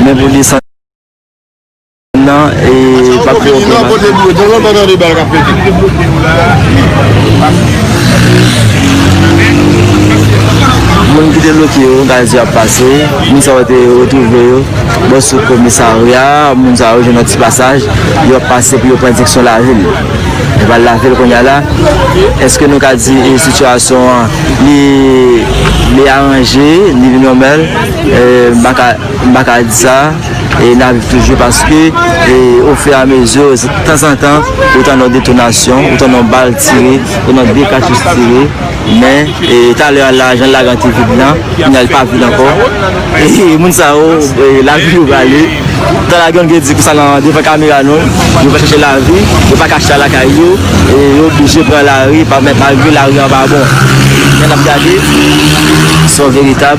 Men pou desann nan e pa p fè oken aksyon. Moun ki te bloke yo, gaz yo ap pase. Moun sa yo te retwouve yo bò sou komisarya. Moun sa yo jwenn yon ti pasaj, yo ap pase pou yo pran direksyon lavil. Yo pral lavil kounye a la. Eske nou ka di sitiyasyon an li aranje, li vin nòmal? m pa ka m pa ka di sa e nap viv toujou paske e o fur et à mesure se tanzantan ou tande yon detonasyon ou tande yon bal tire ou nan de katouch tire men e talè a la jan lagan te vid lan kounya li pa vid ankò e moun sa yo lavi yo prale tan lagan m te di konsa nan devan kamera nou yo pral chache lavi yo pa ka chita lakay yo e yo oblije pran lari malgre lari an pa bon men nap gade son veritab.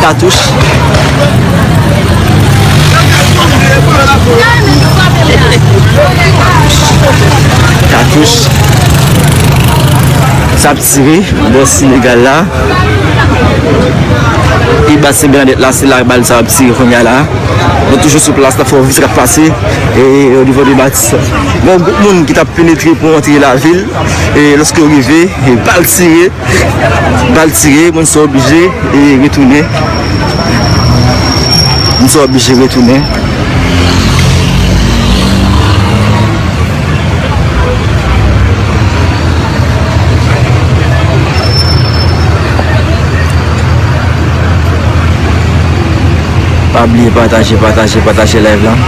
Katouch. Katouch. Sa ap tire. Bò Senegal la. Pi ba se Bernadette la. Se la bal sa ap tire kounye a la. Nou toujou sou plas la. Fò vi se kap pase. E o nivo de batis. Bon, gout moun ki tap penetre pou antre la vil. E loske yo rive. Bal tire. Bal tire, moun sa oblije retounen. Moun sa oblije retounen. Pa bliye pataje, pataje, pataje live lan.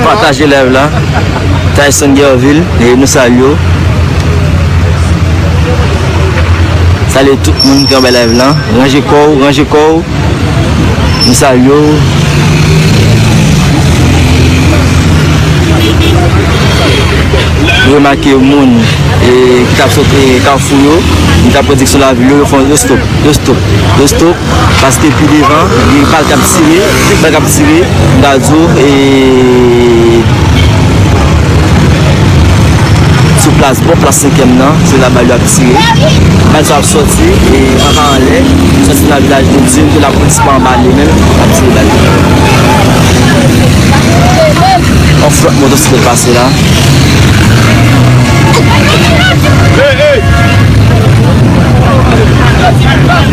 Pataje live la Tayson Guervil nou salye w Salye tout moun ki anba live lan Ranje kò w ranje kò w Nou salye w Nou remake moun ki tap sot kafou yo ki tap prediksyon lavi yo yo fon yo stop yo stop yo stop Paske pi devan gen bal kap tire, tout bal kap tire, m ta di w e sou plas bò plas senkyèm nan, se la bal yo ap tire. Bal sa yo ap sòti e anba anlè, yo sòti nan vilaj de Dye, m te lapolis pa anba li menm ap tire bal yo. On flòt motosiklèt pase la.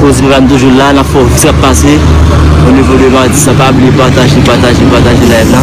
Kouz m kan toujou la nan fò sak pase o nivo de Matis la pa bliye pataje pataje pataje live la.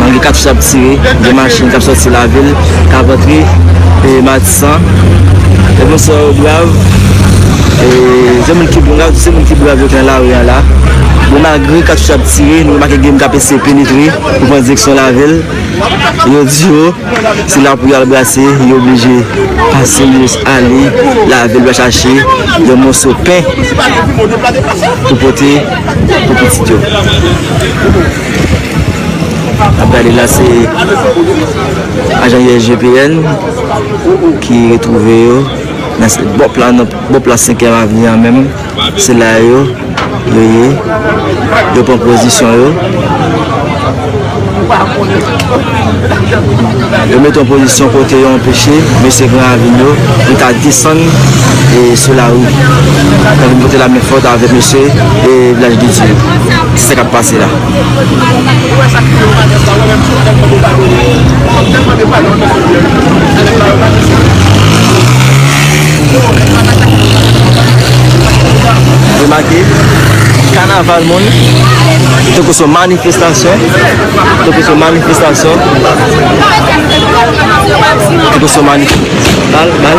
Malgre katouch ap tire, gen machin kap sòti lavil, kap antre Matisan. Gen moun sa yo brav, se moun ki brav, se moun ki brav yo ki nan lari an la. Bon malgre katouch ap tire, nou remake gen moun kap eseye penetre pou pran direksyon lavil. Yo di yo. Se la pou yo al brase, yo oblije pase Minis Ale lavel va chache yon moso pen pou pote pou pitit yo. Nap gade la se ajan USGPN ki retwouve yo nan bòp la 5 èm avni an menm. Se la yo yo ye yo pran pozisyon yo yo mete yon pozisyon kote yo anpeche mesye gran avin yo vin ka desann sou lari pou vin pote lamen fòt avèk mesye vilaj de dye se sa kap pase la. Remake, kanaval moun, tankou se yon manifestasyon, tankou se yon manifestasyon, tankou se yon manifestasyon, bal, bal.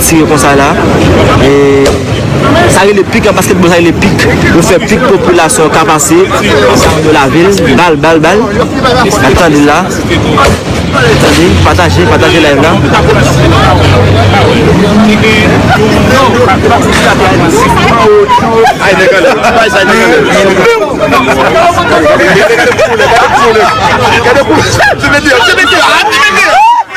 Tire konsa la e sa rele pik an basketball sa rele pik yo fè pik pou popilasyon an ka pase san yo lave l bal bal bal nap tande l la tande pataje pataje live la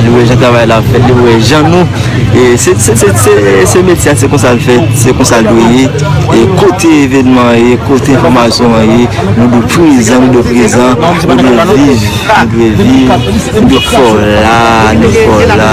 Li wè jan travay la ap fèt, li wè jan nou, se metye a, se konsa l fèt, se konsa l dwe ye, e kote evènman an ye, kote enfòmasyon an ye, nou dwe prezan, nou dwe prezan, nou dwe viv, nou dwe viv, nou dwe fò la, nou fò la.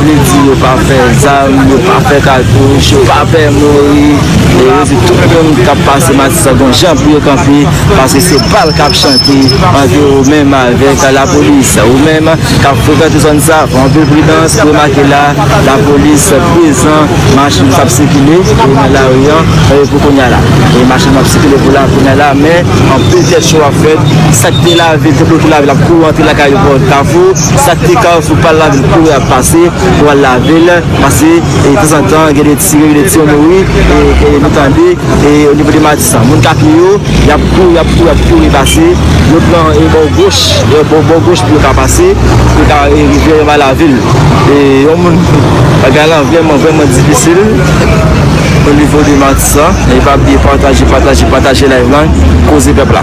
Li di yo pa fè zam, yo pa fè katouch, yo pa pè mouri e yo di tout moun k ap pase Matisan gon jan pou yo kanpe paske se bal k ap chante antre ou menm avèk lapolis. Ou menm k ap frekante zòn sa, fè anpil pridans, remake la lapolis prezan, machin p ap sikile pou nan lari an e pou kounya la e machin ap sikile pou la kounya la men anpil tèt cho ap fèt, sa k te lave, te bloke lave l ap kouri antre lakay yo bò kafou. Pou sak te ka sou pal la vin kouri ap pase pou al lavel pase e tanzantan gen de tire gen de tire nou wi e nou tande e o nivo de matisan moun ka pye yo yap kouri yap kouri yap kouri pase yo pran e bò goch e bò bò goch pou yo ka pase pou yo ka e rive anba lavil e yon moun bagay lan vrèman vrèman difisil o nivo de matisan e pa bliye pataje pataje pataje live lan koze pèp la.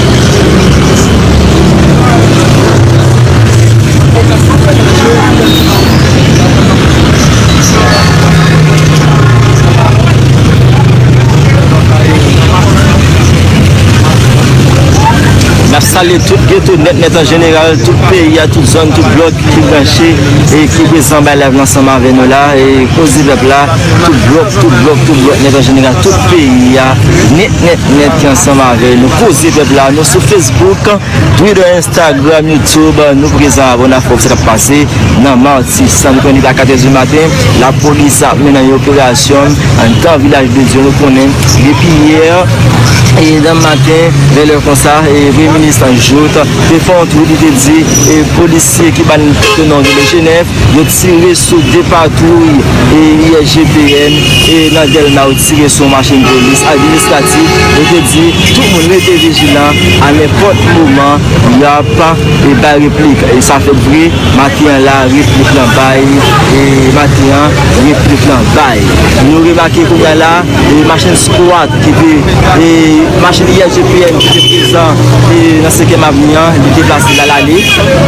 Nap salye tout geto nèt nèt an jeneral, tout peyi a, tout zòn, tout blòk ki branche e ki prezan bay layv lan ansanm avè nou la e Kozipèp la, tout blòk, tout blòk, tout blòk nèt an jeneral, tout peyi a. Nèt nèt ki ansanm avè nou koze pèp la nou sou Facebook Twitter Instagram YouTube nou prezan avè w nap fè w sa kap pase nan martissant nou konnen depi a 4 è di maten la polis ap mennen yon operasyon andan vilaj de Dye nou konnen depi yè e nan maten vè lè konsa e premye minis lan Jouthe te fè yon tweet li te di e polisye ki ban tèt non vile jenèf yo tire sou 2 patwouy e ISGPN e nan dèlma yo Tire sou machin polis administratif yo te di tout moun rete vijilan a nenpòt moman y ap bay replik e sa fèt vre maten an la replik lan bay e maten an replik lan bay nou remake kounye a la e machin skwat ki te e machin ISGPN ki te prezan e nan senkyèm avni an li deplase l al ale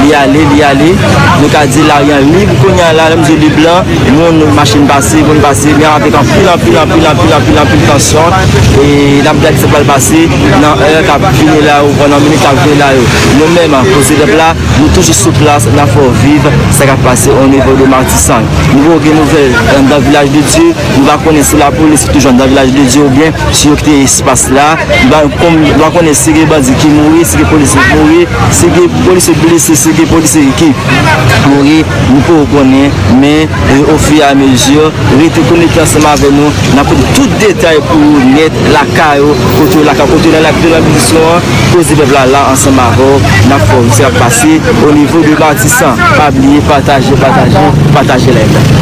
li ale li ale nou ka di laryan lib kounye a la lè m di lib lan Moun, machin pase, moun pase, men avèk anpil, anpil, anpil, anpil, anpil, anpil tansyon e n ap gad sa k pral pase nan è k ap vini la yo, nan minit k ap vini la yo. Nou menm, Koze Pèp la, nou toujou sou plas, n ap fè w viv sa k ap pase onivo de Matisan. Nou poko gen nouvèl anndan Vilaj de Dye, nou pa konnen si lapolis ki toujou anndan Vilaj de Dye oubyen si yo kite espas la. Nou pa konn, nou pa konnen si gen bandi ki mouri, si gen polisye ki mouri, si gen polisye blese, si gen polisye ki mouri. Nou poko konnen, men au fur et à mesure, rete konekte ansanm avè nou, nap pote tout detay pou ou nèt lakay ou, kote ou lakay ou, kote ou nan lapito nan Bilisson an, koze pèp la la ansanm avè w, nap fè w wè sa kap pase au niveau de Matisan, pa bliye pataje, pataje, pataje live la.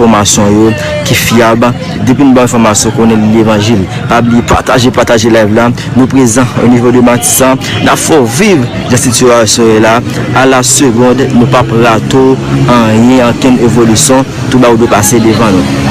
Fòmasyon yo ki fyab depi nou ba enfòmasyon konnen li levanjil pa bliye pataje pataje live la nou prezan o nivo de matisan nap fè w viv jan sitiyasyon ye la a la segond nou pap rate w anyen ankenn evolisyon tou ba ou dwe pase devan nou.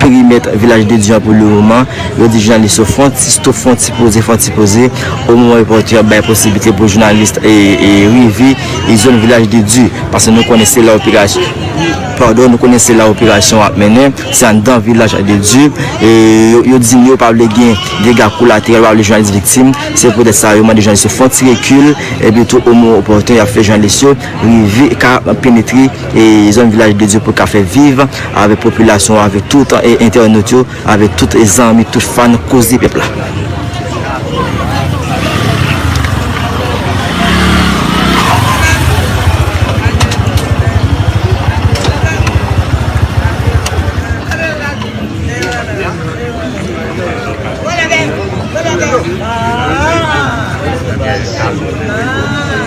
Perimèt Vilaj de Dye an pou le moman, yo di jounalis yo fon ti stop, fon ti poze, fon ti poze, omwen repòtè yo bay posiblite pou jounalis rive zòn Vilaj de Dye, paske nou konnen se la pardon, nou konnen se la operasyon an ap mennen, se anndan Vilaj de Dye, yo di yo pa vle gen dega kolateral, yo pa vle jounalis viktim, se poutèt sa yo mande jounalis yo fon ti rekil, epitou omwen repòtè yo ap fè jounalis yo. rive ka penetre zòn vilaj de Dye pou ka fè viv avèk popilasyon avèk tout entènot yo avèk tout zanmi tout fan koze pèp la.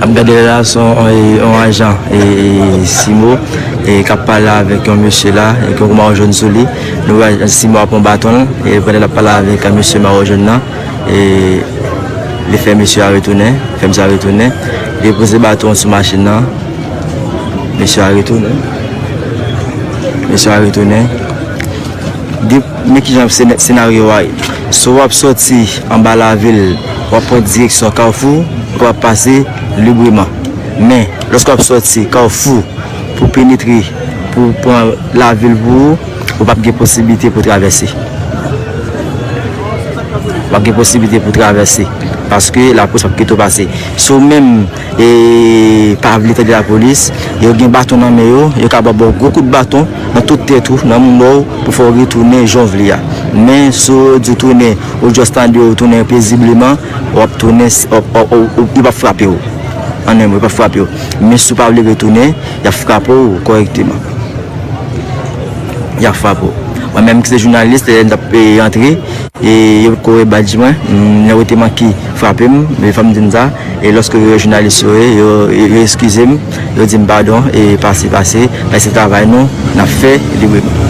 Ap gade la son yon ajan e simo e kap pale avèk yon mesye la e ki yon mawo jòn sou li. Nou wè ajan simo ap pran baton l e pandan l ap pale avèk mesye mawo jòn nan. e li fè mesye a retounen, fèm sa retounen, li poze baton sou machin nan, mesye a retounen, mesye a retounen, di men ki jan senaryo a ye, sou wap soti anba lavil, wap pran direksyon kawfou, pou wap pase libreman, men lòske wap soti kawfou, Pou penetre pou w pran lavil pou ou, ou pap gen posiblite pou travèse. Ou pap gen posiblite pou travèse. Paske lapolis pap kite w pase. Si w menm pa vle tande lapolis, yo gen baton nan men yo, yo ka ba w gwo kout baton nan tout tèt ou, nan moumou w pou fè w retounen jan w vle a. Men si yo di w tounen, ou just tande yo tounen pezibleman, wap tounen, yo pap frape w. An 1 mo, yo pap frape w. Men si w pa vle retounen, y ap frape w kòrèkteman. Y ap frape w. Mwen menm ki se jounalis, lè m t ap antre, e yo te kore badj mwen, lè yo te manke frape m, e fò m di m sa, e lòske yo wè jounalis yo ye, yo eskize m, yo di m padon, e pase, pase, paske se travay nou, n ap fè libreman.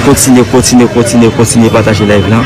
Kontinye, kontinye, kontinye, kontinye pataje layv lan.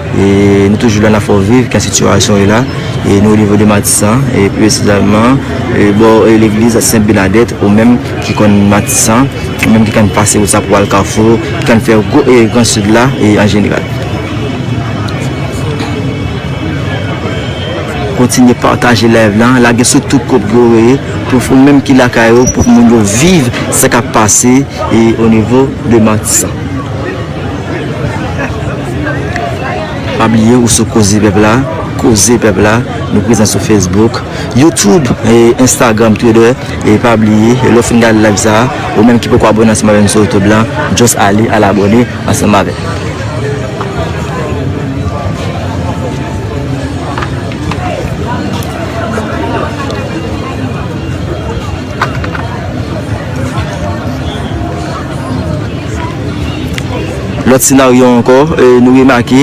E nou toujou la nan fò viv kan sitiyasyon ye la e nou o nivo de matisan e pi presizalman bò legliz sent benadèt ou menm ki konn matisan ou menm ki konn pase wout sa pou al kafou ki konn fè gran sid la e an jeneral kontinye pataje live lan lage sou tout kòd ke ou ye pou ou menm ki lakay ou pou moun yo viv sa kap pase e o nivo de matisan. Pa bliye ou sou koze pèp la, koze pèp la, nou prezan sou Facebook, YouTube e Instagram Twitter e pa bliye lè w fin gade live sa a ou menm ki poko abone ansanm avè nou sou YouTube lan just ale al abone ansanm avè m. Lòt senaryo ankò, nou remake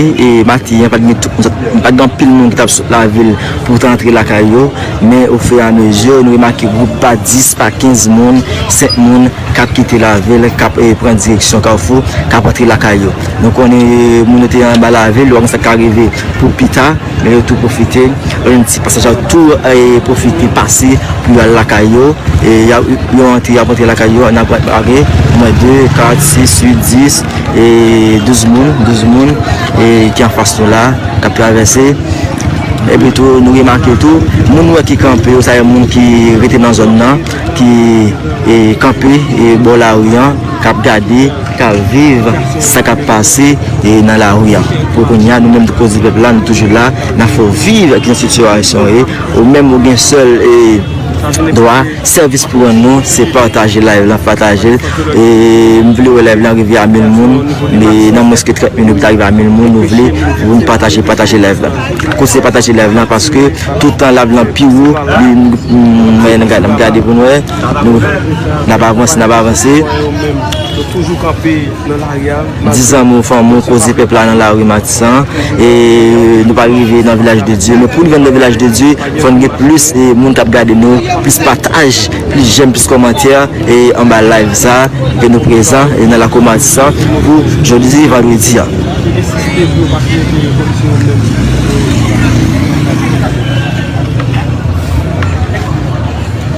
maten an pa t gen tout moun, sa vle di pa t gen anpil moun ki t ap sot lavil pou te antre lakay yo, men ofiramezi nou remake gwoup pa 10, pa 15 moun, 5 moun k ap kite lavil, k ap pran direksyon kafou, k ap antre lakay yo. Nou konnen moun yo te anba lavil, nou pa konnen sa k ka rive pou pita. Men yo tou pwofite yon ti pasaj ak tou pwofite pase pou yo al lakay yo e yo antre y ap antre lakay yo nan pral pare pou mwen 2, 4, 6, 8, 10 e 12 moun 12 moun ki anfas nou la k ap travèse epi tou nou remake tou moun nou wè ki kanpe yo sa yo moun ki rete nan zòn nan ki kanpe bò lari an. kap gade, kap viv sa kap pase nan lari a. Pou kounya nou menm Koze Pèp la nou toujou la, nan fè w viv kijan sitiyasyon ye. Ou menm ou gen sèl dwa, sèvis pou w rann nou se pataje live lan, pataje l. M vle wè live lan rive a mil moun, nan mwens ke 30 minit pou l ta rive a mil moun nou vle pou nou pataje, pataje live lan. Koze Pataje live lan paske toutan live lan pi wo, m gade pou m wè. Nap avanse, nap avanse. 10 an moun fanm moun koze pèp la nan la rue Matisan. E nou pa rive nan vilaj de Dieu. Men pou rive nan vilaj de Dieu, fòn gen plis moun kap gade nou, plis pataj, plis jèm, plis kòmantè e anba live sa. Ke nou prezan e nan la kou Matisan pou jodi vandredi an.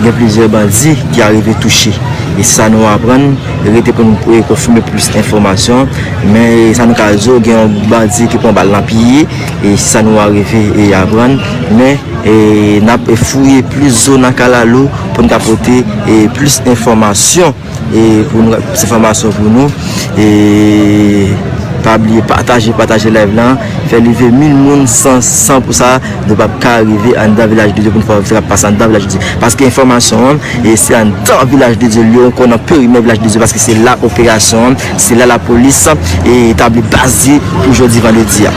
Gen plizyè bandi ki arive touche. E sa nou aprann, rete pou nou konfime plis enfòmasyon, men sa nou ka di w gen yon bandi ki pran bal nan pye, e se sa nou arive aprann, men n ap fouye plis zo nan kalalou pou nou ka pote plis enfòmasyon. E pou nou plis enfòmasyon pou nou e pa bliye pataje pataje live lan fè live mil moun san pou sa nou pap ka rive anndan vilaj de Dye pou nou fè sa kap pase anndan vilaj de Dye paske enfòmasyon an e se anndan vilaj de Dye liye ou kon nan perimè vilaj de Dye paske se la operasyon an se la lapolis e tabli baz li pou jodi vandredi a.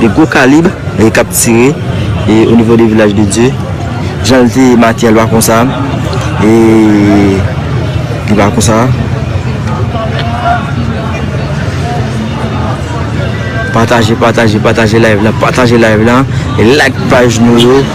De gwo kalib k ap tire o nivo de Vilaj de Dye. Jan l te make a l pa konsa. E li pa konsa. Pataje, pataje, pataje live la. Pataje live la. E like paj nou yo.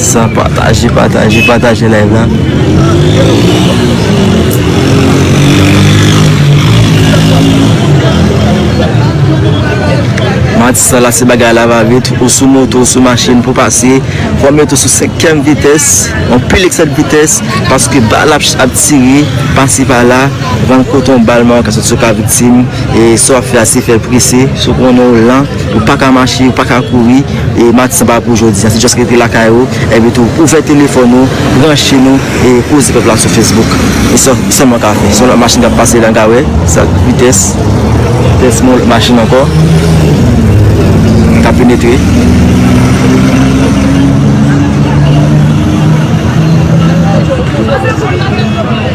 San pataje pataje pataje live la. Mati sa la se bagay la va vit ou sou moto ou sou machin pou pase fò met ou sou 5 kèm vitès anpil eksè de vitès paske bal ap tire pase pa la. Van koton bal man an ka soti sou ka viktim e sa w ap fè a se fè l prese si w konnen w lan ou pa ka mache ou pa ka kouri e maten sa pa pou jodi a se just rete lakay ou epi tou ouvè telefòn ou branche nou e koze pèp la sou Facebook e sa w sèlman ka fè si yon lòt machin ta pase lan ka wè sa vitès vitès yon lòt machin ankò ka penetre.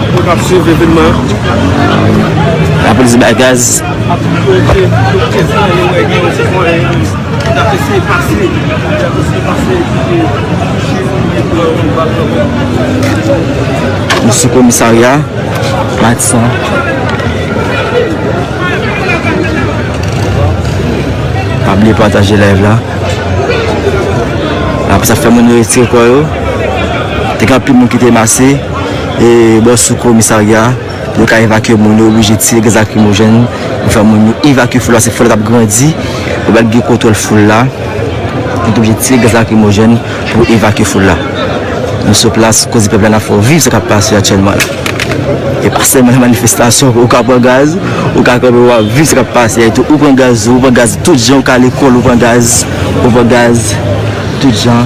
Moun kap swiv evenman an. Lapolis bay gaz. Nou sou komisarya matisan. Pa bliye pataje live la. Apre sa fè moun yo retire kò yo. Te gen anpil moun ki te mase. e bò sou komisarya yo ka evakye moun yo oblije tire gaz lakrimojèn pou fè moun yo evakye foul la se foul la tap grandi pou pat gen kontwòl foul la yo te oblije tire gaz lakrimojèn pou evakye foul la nou sou plas koze pèp la nap fè w viv sa kap pase aktyèlman la e pa sèlman nan manifestasyon ou ka pran gaz ou ka kanpe wap viv sa kap pase a itou ou pran gaz ou pran gaz tout jan ou ka lekòl ou pran gaz ou pran gaz tout jan.